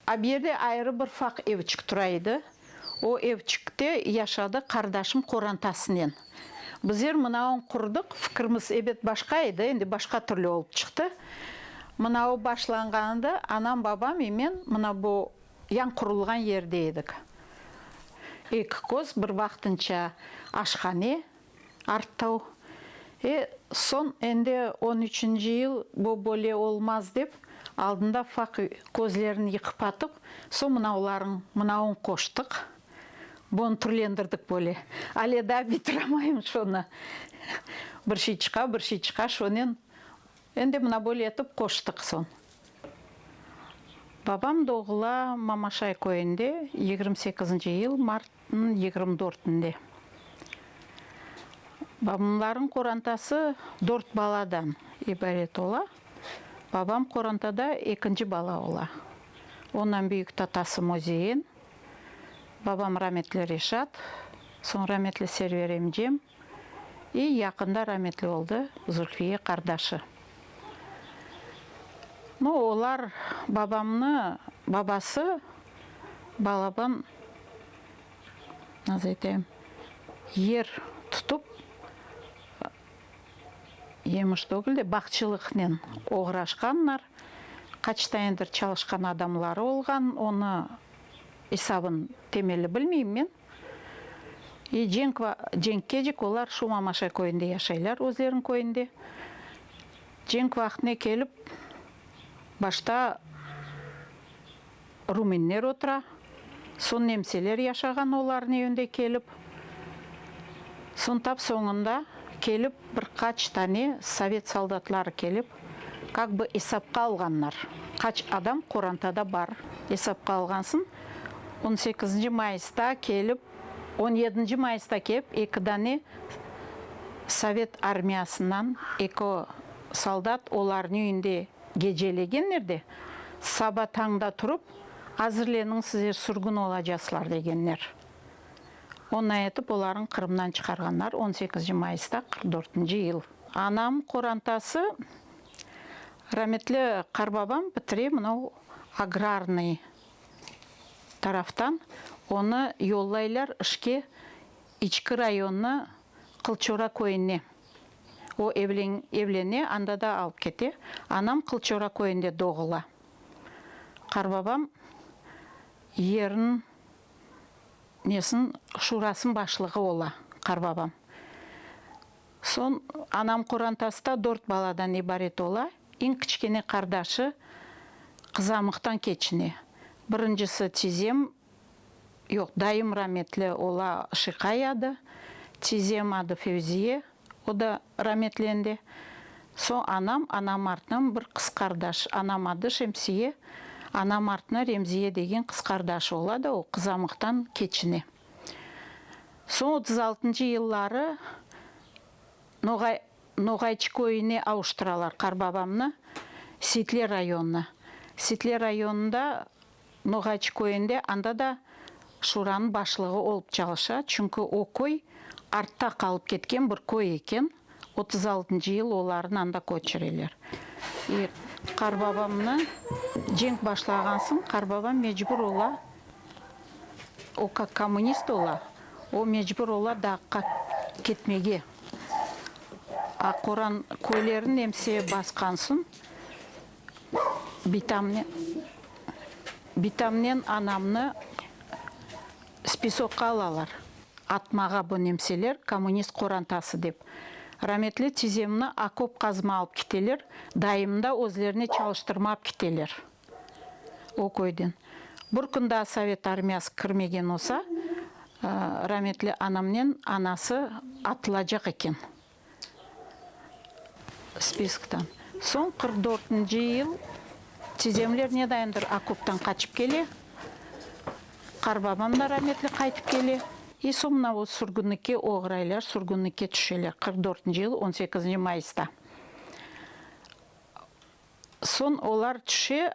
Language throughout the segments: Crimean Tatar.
Abiyede ayrı bir faq evçik tura edi. O evçikte yaşadı qardaşım qorantasınen. Bizer mınaun qurdıq, fikirmiz ebet başqa edi, endi başqa türlü olıp çıqtı. Mınau başlanğanında anam, babam i men mına bu yañ qurulğan yerde edik. Eki köz, bir vaqtınca aşhane. arttau. E, soñ endi on üçünci yıl bu böle olmaz dep, aldında faq közlerin yıqıp atıp, soñ mınaularıñ, mınauñ qoştıq, bun türlendirdik böyle. Ale daa bitiremayım şunı. Bir şey çıqa, bir şey çıqa, şonen endi mına böyle etip qoştıq soñ. Babam doğula Mamaşay köyünde, yigirmi sekizinci yıl mart. Nıñ yigirmi dörtünde babamlarnıñ qorantası dört baladan ibaret ola. Babam qorantada ekinci bala ola. Ondan büyük tatası Mözeyen, babam rametli Reşat, soñ rametli Server emcem. Ey yaqında rametli oldı Zulfiye qardaşı. No olar babamnı babası balaban naz eteyim yer tutıp yemiş tögül de bağçılıqnen oğraşqanlar qaç tanedir çalışqan adamları olğan onı esabın temeli bilmeyim men. E. Cenk ve Cenk Kecik, olar şu Mamaşay köyünde yaşaylar, özleriniñ köyünde. Cenk vaqtine kelip, başta rumenler otura, soñ nemseler yaşağan olarnıñ evinde kelip, soñ tap soñunda kelip bir qaç tane sovet soldatları kelip, Kak bı esapqa alğanlar, qaç adam qorantada bar, esapqa alğansıñ, on sekizinci mayısta kelip, on yedinci mayısta kep, eki dane sovet armiyasından eki soldat olarnı üyünde gecelegenler de, saba tañda turıp, azirleniñ sizler sürgün olacaslar degenler. Onay etip olarıñ Qırımdan çıqarğanlar on sekizinci mayısta qırq dörtünci yıl. Anam qorantası, rametli qarbabam bitire mınau agrarnıy taraftan, onı yollaylar işke İçki rayonnı Qılçora köyüne. O evlene, anda da alıp kete. Anam Qılçora köyünde doğula. Qarbabam yerın nesin şurasın başlığı ola, qarbabam. Soñ anam Qorantasta dört baladan ibaret ola, eñ kiçkene qardaşı qızamıqtan keçine. Birincisi tizem, yoq, dayım rametli ola Şiqay adı, tizem adı Fevziye, o da rametlendi. Soñ anam, anam artnıñ bir qız qardaş, anam adı Şemsiye, anam artnı Remziye degen qız qardaşı ola da o qızamıqtan keçine. Soñ otuz altıncı yılları Noğay Noğayçı köyüne avuştıralar qarbabamnı, Sitle rayonına. Sitle rayonında Noğayçı köyünde, anda da şuranıñ başlığı olıp çalışa, çünki o köy artta qalıp ketken bir köy eken. Otuz altıncı yıl olarnı anda köçireler. E, qarbabamnı cenk başlağan soñ, qarbabam mecbur ola, o kak kommunist ola, o mecbur ola Dağqa ketmege. A qoran köylerin nemse basqan soñ, bitamnen, bitamnen anamnı, Spisokqa alalar. Atmağa bu nemseler kommunist qorantası dep. Rametli tizemni akop qazma alıp kiteler, daimda özlerine çalıştırma alıp kiteler o köyden. Bir kün daa sovet armiyası kirmegen olsa, rametli anamnen anası atılacaq eken. spiskten. Soñ qırq dörtünci yıl Çizemler nedayımdır okoptan qaçıp kele, qarbabam da rametli qaytıp kele. E, soñ mına o sürgünlikke oğraylar, sürgünlikke tüşeler, qırq dörtünci yıl on sekizinci mayısta. Soñ olar tüşe,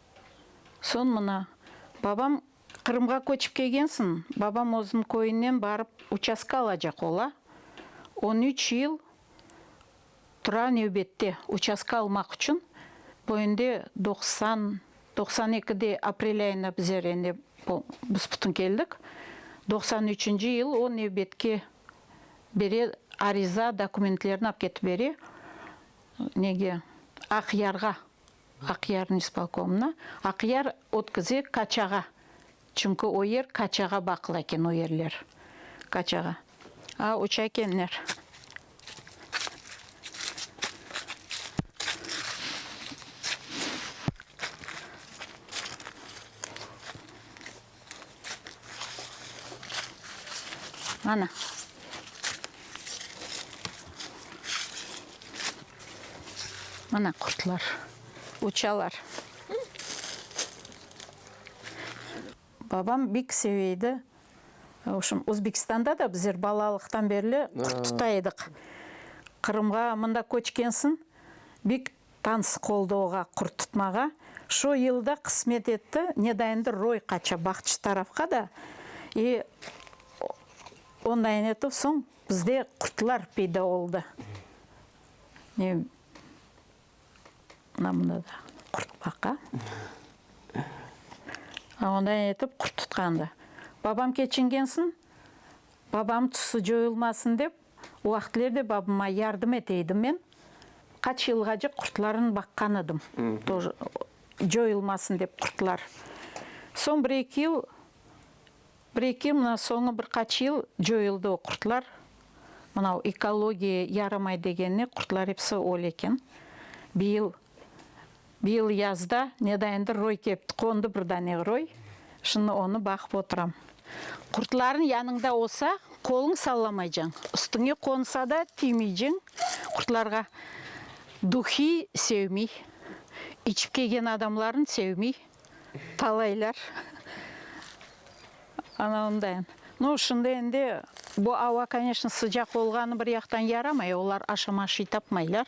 Soñ mına, babam, Qırımğa köçip kelgensiñ, babam özüniñ köyünen barıp uçastka alacaq, ola. On üç yıl tura nevbette, uçastka almaq içün. Bu endi doqsan, doqsan ekide aprel ayına bizler endi büs-bütün keldik. Doqsan üçünci yıl o nevbetke bere, ariza, dokumentlerini apketip bere, nege, Aqyarğa, Aqyarnıñ ispolkomına, Aqyar ötküze Kaçağa, çünki o yer Kaçağa baqlı eken, o yerler Kaçağa. A, uça ekenler. Mana. Mana qurtlar uçalar. Babam bek seve edi. Vobşem, Özbekistanda da bizler balalıqtan berli qurt tuta ediq. Qırımğa mında köçkensin, bek Tans qoldovğa qurtutmağa şu yılda qısmet etti, ne da endi roy qaça baqçı tarafqa da, i ondayin etüv soñ bizde qurtlar peyda oldı. Ne mına mında da qurt baqa. A ondayin etüv qurtutqandı. Babam keçingensin, babam tusı coyulmasın dep, O vaqıtler de babıma yardım eteydim men. Qaç yılğacı qurtlarnı baqqan edim, tor, coyulmasın dep qurtlar. Soñ bir eki yıl, bir eki yıl, mına soñu bir qaç yıl coyuldı o qurtlar. Mına o ekologiya yaramay degenine qurtlar episi öl eken. Bir yıl Bu yıl yazda nedayındır roy kepti, qondı bir dane roy, şimdi onı baqıp oturam. Qurtlarnıñ yanıñda olsa, qoluñ sallamaycañ, üstüñe qonsa da tiymeyciñ, qurtlarğa. Duhiy sevmiy, içip kelgen adamlarnı sevmiy, talaylar. Ana onday. No, şimdi endi bu ava, koneşno, sıcaq olğanı bir yaqtan yaramay, olar aşama şey tapmaylar.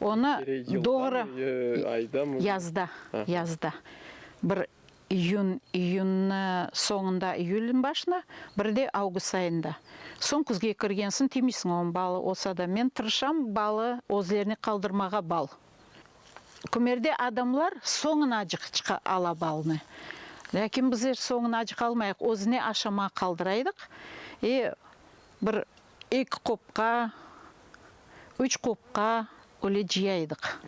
Onı doğru yazda, yazda, bir iyün, iyünnü soñunda, iyülniñ başında, bir de avgust ayında. Soñ küzge kirgensiñ tiymeysiñ oña bal olsa da. Men tırışam balı özlerine qaldırmağa bal. Kümerde adamlar soñunacıq çıqa ala balnı. Lâkin bizler soñunacıq almayıq, özüne aşamağa qaldıraydıq. E, bir Eki qopqa, üç qopqa öyle cıyaydık.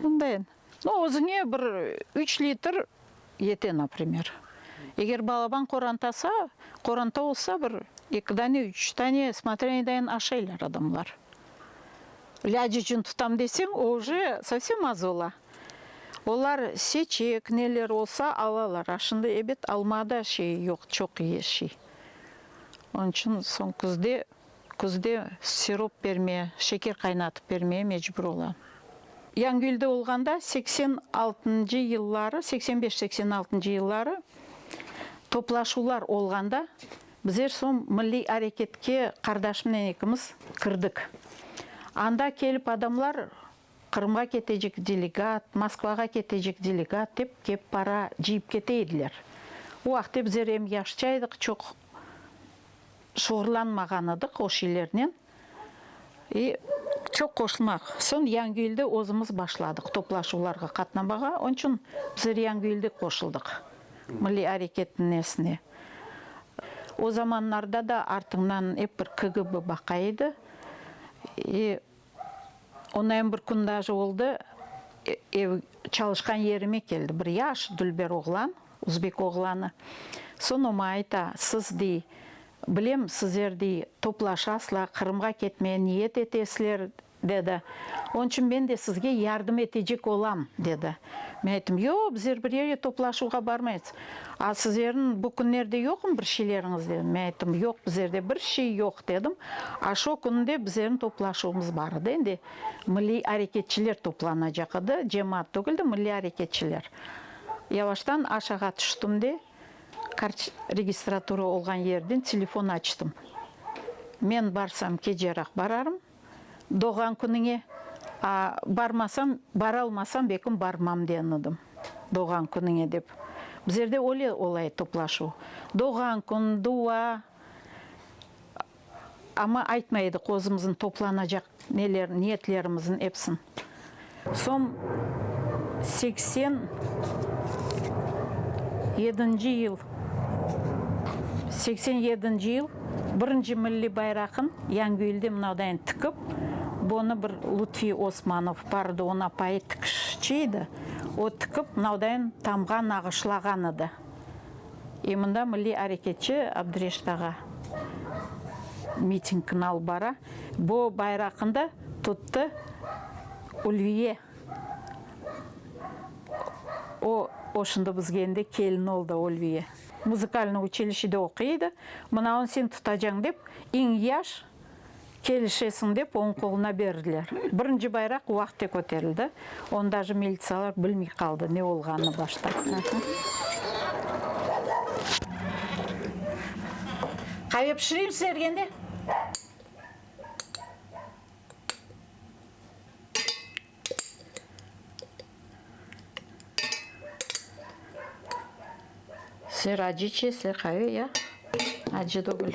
Bundayen, no, özüñe bir üç litr yete, naprimer. Eger balaban qorantasa, qoranta olsa, bir eki dane, üç dane, smotrya nedayen aşaylar adamlar. İlâc içün tutam deseñ, o уже sovsem az ola. Olar seçek, neler olsa, alalar. A şimdi, ebet, almada şey yoq, çoq şey. Onıñ içün soñ küzde, küzde sirop bermeye, şeker qaynatıp bermeye mecbur olam. Yañgülde olğanda seksen altıncı yılları, seksen beş, seksen altıncı yılları toplaşuvlar olğanda bizler soñ Milliy areketke qardaşımnen ekimiz kirdik. Anda kelip adamlar Qırımğa ketecek delegat, Moskvağa ketecek delegat dep kep para cıyıp kete ediler. O vaqıtte bizler em yaşça edik, çoq şuğurlanmağan edik o şeylernen. E, çoq qoşulmaq. Soñ Yañgülde özümiz başladıq toplaşuvlarğa qatnamağa. Onıñ içün bizler Yañgülde qoşuldıq milliy areketniñ nesine. O zamanlarda da artıñdan ep bir KGB baqa edi. E, Onayım bir kün daje oldı, ev, çalışqan yerime keldi, bir yaş dülber oğlan, uzbek oğlanı. Soñ o maña ayta, siz, dey, bilem, sizler, dey, toplaşasla, Qırımğa ketmege niyet etesler, dedi. Onıñ içün men de sizge yardım etecek olam, dedi. Men ayttım, yoq, bizler bir yerge toplaşuvğa barmayız. A sizlerniñ bu künlerde yoqmı bir şeyleriñiz? dedim. Men ayttım, yoq, bizlerde bir şey yoq, dedim. A şo künü de bizlerniñ toplaşuvımız bar edi, endi milliy areketçiler toplanacaq edi, cemaat tügil de, milliy areketçiler. Yavaştan aşağı tüştim de, registratura olğan yerden telefon açtım. Men barsam, keceraq bararım. doğğan künüñe barmasañ, baralmasañ bekim barmam degen edim, doğğan künüñe dep. Bizlerde öyle olay toplaşuv, doğğan kün, dua, amma aytmay edik özümizniñ toplanacaq neler, niyetlerimiziñ epsin. Soñ seksen yedinci yıl, seksen yedinci yıl birinci milliy bayraqın Yañgülde mınavdayin tikip, bunı bir Lutfiy Osmanov bar edi, onapayı tikişçi edi, o tikip, mınavdayin tamğa nağışlağan edi. E mında milliy areketçi Abdureşit ağa mitingni alıp bara, bu bayraqnı da tuttı Ulviye. O, o şimdi bizge endi kelin oldı, Ulviye. Muzikalnıy uçilişede oquy edi, mına on sen tutacañ dep, eñ yaş Kelişesiñ, dep oñ qoluna berdiler. Birinci bayraq uaqte köterildi. Onı daje militsiyalar bilmey qaldı, ne olğanını başta. Qave pişireyim sizlerge endi. Siler acı içesizler, qave ya? Acı degil.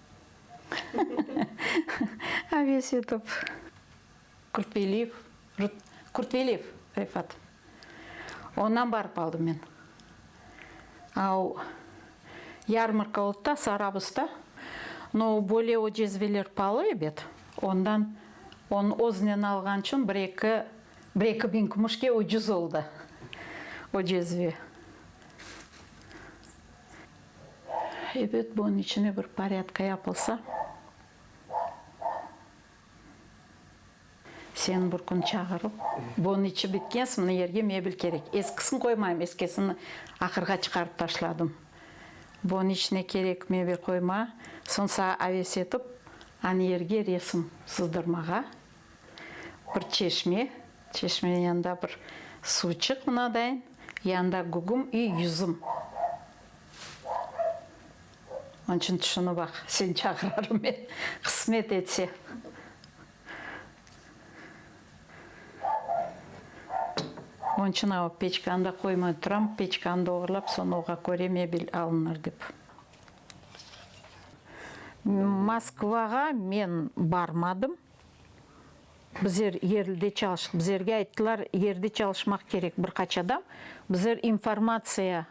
Avesitov Kurtveliyev Kurtveliyev Refat. Ondan barıp aldım men. A o yarmarka oldı da, Sarabusda. No o böyle o cezveler palı ebet, ondan on öznen alğan içün bir eki bir eki biñ kümüşke ucuz oldı o cezve. Ebet, bunıñ içine bir porâdka yapılsa, seni bir kün çağırıp, bunıñ içi bitkensiñ, mına yerge mebel kerek, eskisin qoymayım, eskisin ahırğa çıqarıp taşladım, bunıñ içine kerek mebel qoyma, soñ saña aves etip, anı yerge resim sızdırmağa Bir çeşme, çeşmenin yanında bir suvçıq mınadayin, yanında gugum i yüzüm. Onıñ içün tüşünip aq, seni çağırarım men, qısmet etse. Onıñ içün o peçkanı da qoymay turam, peçkanı da oğurlap, soñra oğa köre mebel alınır dep. Moskvağa men barmadım. Bizler yerlide çalıştıq. Bizlerge ayttılar, yerde çalışmaq kerek bir qaç adam. Bizler informatsiya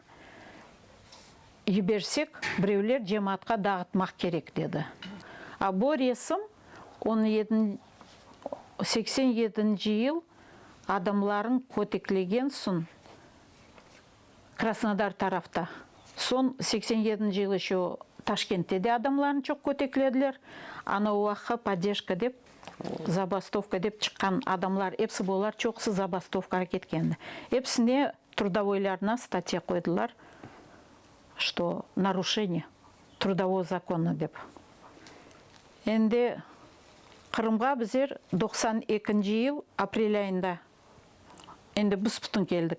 yibersek, birevler cemaatqa dağıtmaq kerek, dedi. A bu resim on yedi, seksen yedinci yıl adamlarnı köteklegen soñ. Krasnodar tarafta. Soñ seksen yedinci yıl eşo Taşkentte de adamlarnı çoq köteklediler. Ana o vaqı Poddeşka dep, zabastovka dep çıqqan adamlar episi bolar, çoqusı zabastovkağa ketkendi. Episine trudavoylarına statya qoydılar, Что naruşeniye trudovoo zakonno dep. Endi Qırımğa bizer doqsan ekinci yıl aprel ayında Endi büs-bütün keldik.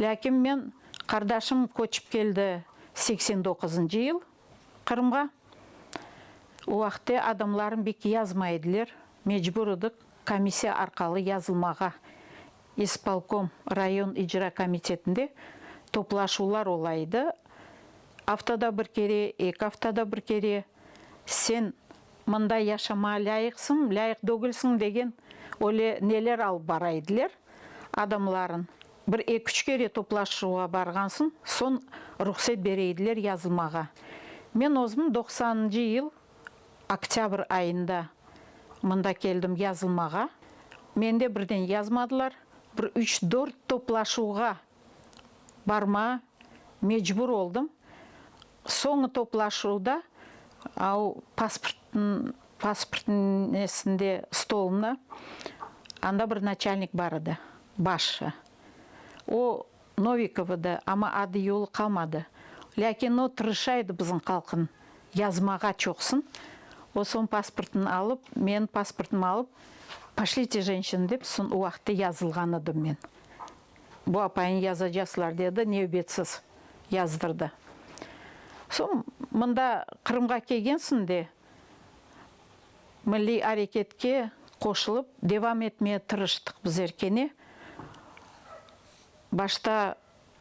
Lâkin men, qardaşım köçip keldi seksen doquzıncı yıl Qırımğa. O vaqıtte adamlarım bek yazmay ediler, mecbur edik komissiya arqalı yazılmağa. İspolkom, rayon icra komitetinde toplaşuvlar ola edi, aftada bir kere, eki aftada bir kere. Sen Mında yaşamağa lâyıqsıñ, lâyıq dögilsiñ degen öyle neler alıp bara ediler, adamların. Bir eki-üç kere toplaşuvğa barğansıñ, soñ ruhset bere ediler yazılmağa. Men özüm doqsanıncı yıl oktâbr ayında mında keldim yazılmağa. Mende birden yazmadılar, bir üç-dört toplaşuvğa barma mecbur oldım. Soñu toplaşuvda au pasport pasport nesinde stolında anda bir naçalnik bar edi, başşı. O Novikov edi, amma adı-yolı qalmadı. Lâkin o tırışa edi bizim halqnı yazmağa çoqsın. O soñ pasportnı alıp, menim pasportımı alıp, Poşlite jenşin dep, son o vaqıtta yazılğan edim men. Bu apayıñ yazacaslar, dedi, nevbetsiz yazdırdı. Soñ, mında Qırımğa kelgensiñ de, milliy areketke qoşulıp devam etmeye tırıştıq bizler kene. Başta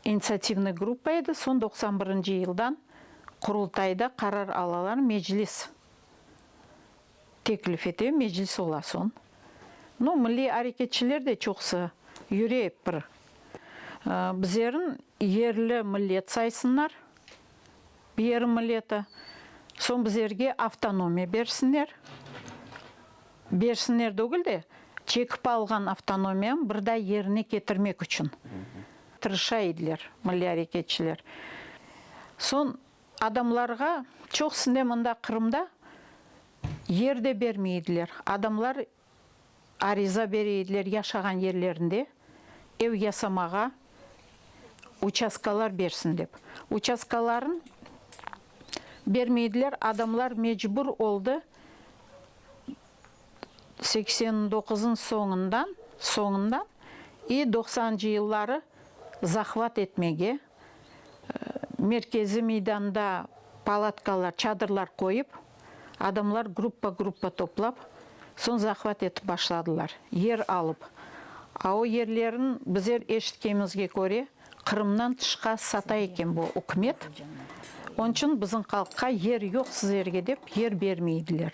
initsiativnıy gruppa edi, soñ doqsan birinci yıldan Qurultayda qarar alalar, Meclis teklif ete, Meclis ola soñ. No, milliy areketçiler de çoqusı yüre ep bir. Bizlerni yerli millet saysınlar, bir yerin milleti, soñ bizlerge avtonomiya bersinler. Bersinler degil de, çekip alğan avtonomiyam bir daa yerine ketirmek içün tırışa ediler milliy areketçiler. Soñ Adamlarğa, çoqusıne mında Qırımda yer de bermey ediler. Adamlar ariza bere ediler yaşağan yerlerinde ev yasamağa uçastkalar bersin dep. Uçastkalarnı bermey ediler. Adamlar mecbur oldı seksen doquzıñ soñundan, soñundan i doqsancı yılları zahvat etmege. Merkeziy meydanda palatkalar, çadırlar qoyıp, adamlar gruppa-gruppa toplap, soñ zahvat etip başladılar, yer alıp. A o yerlerin, bizer eşitkemizge köre, Qırımdan tışqa sata eken bu ükümet, onıñ içün bizim halqqa yer yoq sizlerge dep yer bermeydiler.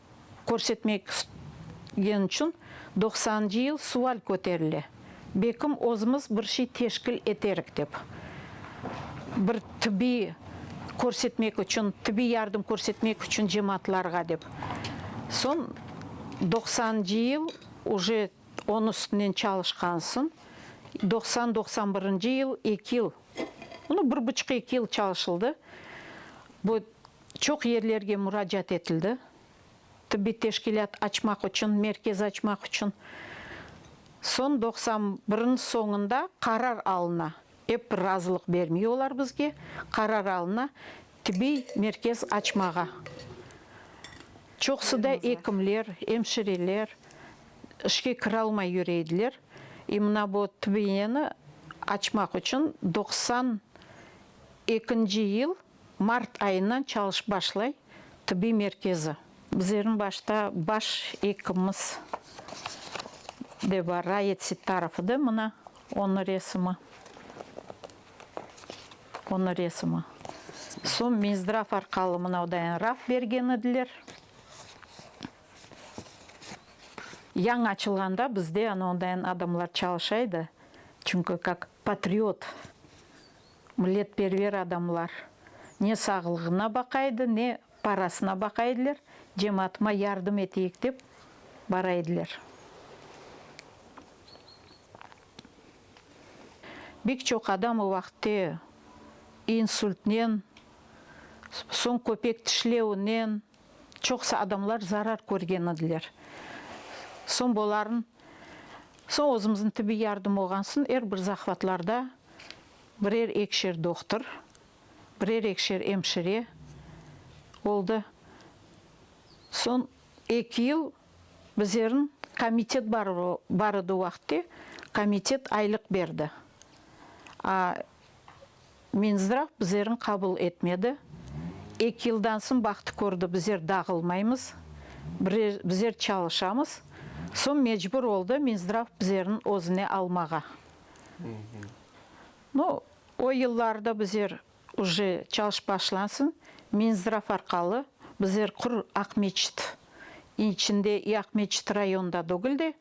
körsetmek istgeni içün doqsancı yıl sual köterile, bekim özümiz bir şey teşkil eterik dep, bir tibbiy körsetmek içün, tibbiy yardım körsetmek içün cemaatlarğa dep. Soñ doqsancı yıl уже onı üstünden çalışqansıñ, doqsan, doqsan birinci yıl eki yıl, no bir buçuq-eki yıl çalışıldı. Bu Çoq yerlerge muracaat etildi, tibbiy teşkilât açmaq içün, merkez açmaq içün. Soñ doqsan birniñ soñunda qarar alına, ep bir razılıq bermey olar bizge, qarar alına tibbiy merkez açmağa. Çoqusı da ekimler, emşireler işke kire almay yüre ediler. İ mına bu TBEni açmaq içün doqsan ekinci yıl Mart ayından çalış başlay tibbiy merkezi. Bizlerniñ başta baş ekimimiz de bar, Rayet Sittarov edi, mına onıñ resimi, onıñ resimi. Soñ Minzdrav arqalı mınau dayan raf bergen ediler. Yañı açılğanda bizde anauındayan adamlar çalışa edi, çünki kak patriot. Milletperver adamlar ne sağlığına baqaydı, ne parasına baqaydılar, cemaatıma yardım eteyik dep baraydılar. Bek çoq adam o vaqıtte insultnen, soñ köpek tişlevinen, çoqusı adamlar zarar körgen ediler. Soñ boların, soñ özümizniñ tibbiy yardım olğansın, er bir zahvatlarda birer ekişer doqtır, birer ekişer emşire oldı. Soñ eki yıl bizerin komitet bar bar edi o vaqıtte, komitet aylıq berdi. A Minzdrav bizlerni qabul etmedi. Eki yıldan soñ bahtı kördi, bizler dağılmaymız, bizler çalışamız. Soñ mecbur oldı Minzdrav bizlerni özüne almağa. No, o yıllarda bizler uje çalış başlansın, Minzdrav arqalı bizler qur Aqmeçit içinde, Aqmeçit rayonında degil de,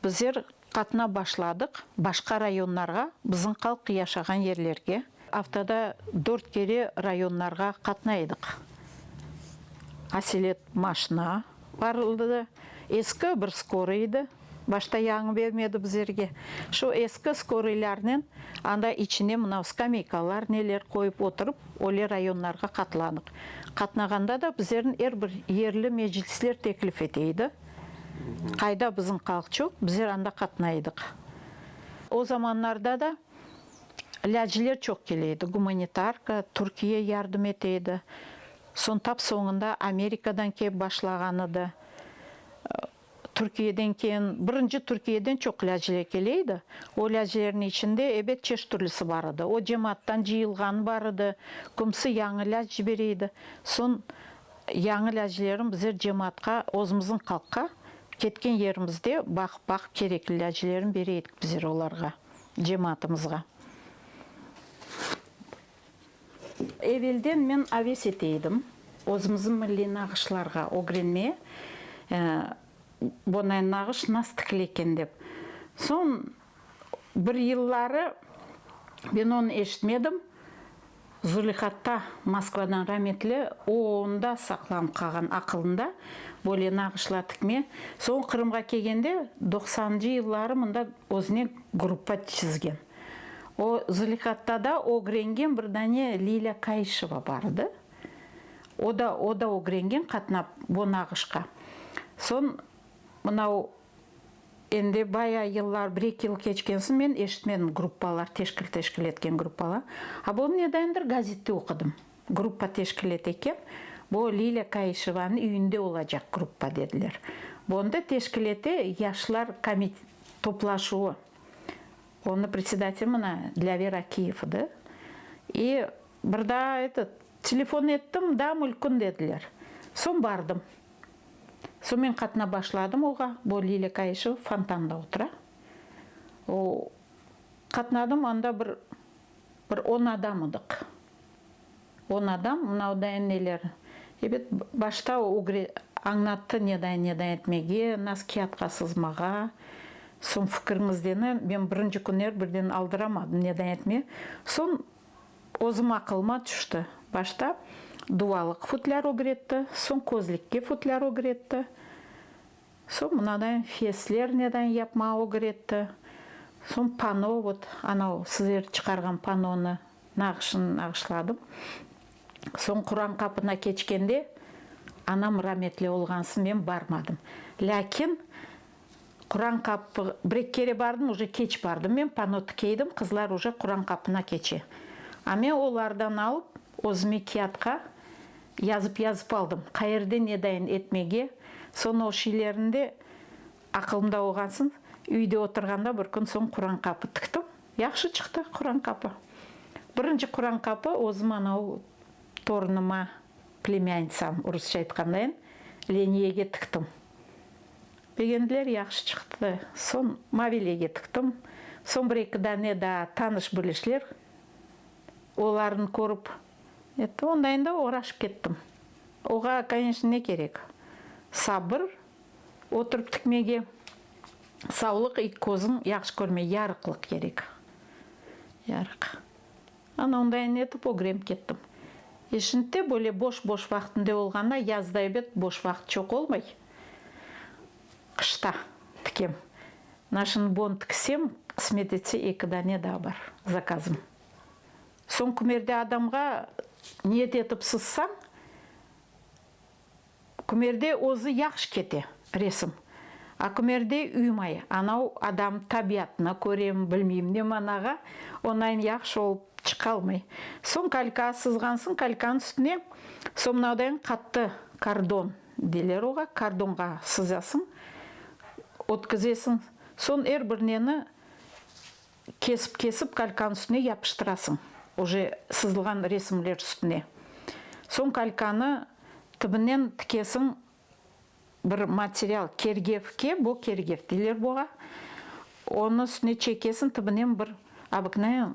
bizler Qatna başladıq, başqa rayonlarğa, bizim qalq yaşağan yerlerge. Aftada dört kere rayonlarğa qatnaydıq. Aselet maşna bar ıldı, eski bir skoriy edi, başta yañı bermedi bizlerge. Şu eski skoriylernen anda içine mınav skameykalar neler qoyıp oturıp, öyle rayonlarğa qatlanıq. Qatnağanda da bizlerni er bir yerli meclisler teklif eteydi. Qayda bizim Qalçuk, bizler anda qatnay edik. O zamanlarda da lâciler çoq kele edi, gumanitarka, Türkiye yardım ete edi. Soñ tap soñunda Amerikadan kep başlağan edi. Türkiyeden keyin, birinci Türkiyeden çoq lâciler kele edi. O lâcilerniñ içinde, ebet, çeşit türlüsi bar edi. O cemaattan cıyılğanı bar edi, kimisi yañı lâc cibere edi. Soñ Yañı lâcilerim bizer cemaatqa özümizniñ qalqqa ketken yerimizde baqıp baqıp kerekli lâcilerin bere edik bizer olarğa, cemaatımızğa. Evelden men aves ete edim özümizniñ milliy nağışlarğa ögrenme bonay nağış nas tikile eken dep. Soñ Bir yılları ben onı eşitmedim. Zulihatta Moskvadan rametli, o onda saqlanıp qalğan aqılında böyle nağışlar tikme. Soñ Qırımğa kelgende doqsancı yılları mında özüne gruppa çizgen. O Zulihattada ögrengen bir dane Lilâ Kayışeva bar edi. O da, o da ögrengen qatnap bu nağışqa. Soñ mınau Endi bayağı yıllar, bir-eki yıl keçkensin, men eşitmedim gruppalar teşkil teşkil etken gruppalar. A bunu nedendir gazette oqudım. Gruppa teşkil ete eken, bu Lilâ Kayışevanıñ üyünde olacaq gruppa dediler. Bu onda teşkil ete yaşlar komi toplaşuvı. Onı predsedatelı mına Dlâver Akiyev edi. İ bir daa etet telefon ettim, da mülkün dediler. Soñ bardım. Soñ men qatına başladım oğa, bu Lilâ Kayışeva fontanda otura. O, qatnadım, anda bir, bir on adam ediq. On adam, mınavdayin neler, ebet, başta o ögre, añlattı nedayin, nedayin etmege, nas kâğıtqa sızmağa, soñ fikiriñizdeni, men birinci künler birden aldıramadım nedayin etme, soñ Özüm aqılıma tüşti. Başta duvalıq futlâr ögretti, soñ közlikke futlâr ögretti, soñ mınadain fesler nedain yapmağa ögretti, soñ pano, vot anau sizler çıqarğan panonı nağışın nağışladım. Soñ Quran qapına keçkende, anam rametli olğansın, men barmadım. Lâkin Quran qapı, bir eki kere bardım, uje keç bardım. Men pano tikeydim, qızlar uje Quran qapına keçe. A men olardan alıp, özüme kiatqa yazıp-yazıp aldım, qayerde nedayin etmege. Soñ o şiilerinde aqılımda olğansıñ, üyde oturğanda bir kün soñ Quran qapı tiktim. Yahşı çıqtı Quran qapı. Birinci Quran qapı özüm anau torunıma, plemyanitsam, rusça aytqandayın, Leniyege tiktim. Begendiler, yahşı çıqtı. Soñ Mavile'ge tıqtım. Soñ bir-eki dane daa tanış bilişler olarnı körip, etti, onda endi oraşıp kettim. Oğa, koneçnı, ne kerek? Sabır, oturıp tikmege, savlıq, eki közüñ yahşı körmege yarıqlıq kerek. Yarıq. Ana onday ne etip ögrenip kettim. E şindte böyle boş-boş vaqtımde olğanına yazda ebet boş vaqıt çoq olmay. Qışta tikem. Naşın bon tikisem, qısmet etse eki dane daa bar zakazım. Soñ kümerde adamğa niyet etip sızsañ, Kümerde özü yahşı kete, resim. A kümerde üymay, anav adam tabiatına körem, bilmeyim ne manağa, onayın yahşı olıp çıqalmay. Soñ kalka sızğansıñ, kalkanıñ üstüne somnadayıñ qattı, kardon deyler oğa, kardonğa sızasıñ, ötkizesiñ. Soñ er bir neni Kesip-kesip kalkan üstüne yapıştırasıñ, oje sızılğan resimler üstüne. Soñ kalkanı tibinen tikesiñ bir material, kergevke, bo kergev deyler boğa, onı üstüne çekesiñ, tibinen bir obıknayen,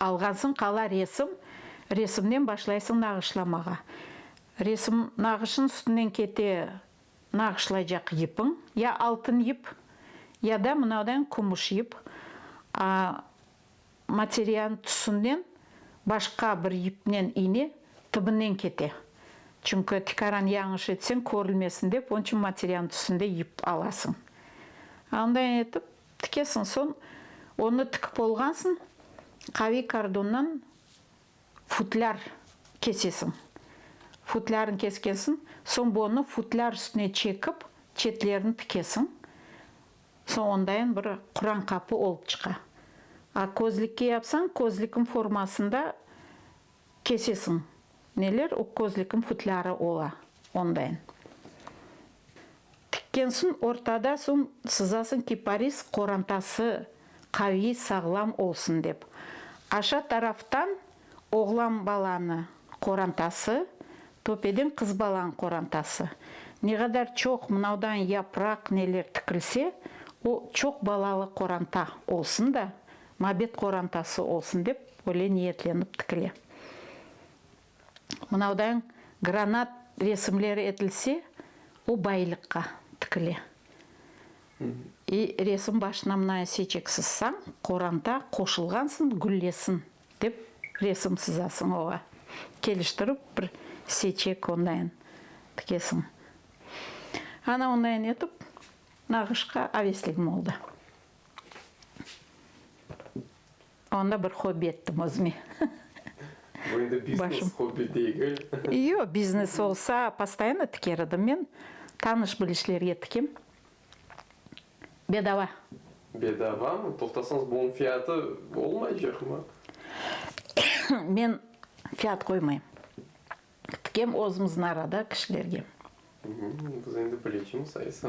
Alğansıñ qala resim, resimnen başlaysıñ nağışlamağa. Resim nağışın üstünden kete nağışlaycaq yipiñ, ya altın yip, ya da mınavdan kümüş yip. A Materialnıñ tüsünden başqa bir yipnen iğne tıbınen kete. Çünki tikaran yañış etseñ körülmesin dep, onıçün materialnıñ tüsünde yip alasıñ. Onday etip Tikesiñ, soñ onı tikip olğansıñ, qaviy kordonnan futlâr kesesiñ. Futlârnı keskensiñ, soñ bunı futlâr üstüne çekip, çetlerini tikesiñ. Soñ ondain bir quran qapı olıp çıqa. A közlikke yapsañ, közlikniñ formasında Kesesiñ. Neler o közlikim futlârı ola ondain. Tikkensiñ ortada soñ sızasıñ kiparis qorantası qaviy sağlam olsun dep. Aşa taraftan oğlan balanı qorantası, töpeden qız balanı qorantası. Negadar çoq mınavdan yapraq neler tikilse o çoq balalı qoranta olsun da Mabet qorantası olsun dep, öyle niyetlenip tikile. Mınavdan granat resimleri etilse, o baylıqqa tikile. E, resim başına mınayı seçeksiz, sañ, qoranta qoşulğansın, güllesin dep resim sızasıñ oğa. Keliştirip bir seçek ondayın tikesiñ. Ana ondayın etip, nağışqa avesligim oldı. Onda bir hobbi ettim özüme. Bu endi biznes, hobbi degil. Yoq, biznes olsa, postoyanno tiker edim men. Tanış-bilişlerge tikem. Bedava. Bedavamı? Toqtasañız, bunıñ fiyatı olmaycaqmı? Men fiyat qoymayım. Qıtkem özümüzniñ arada kişilerge. Biz endi pleçimiz aysa.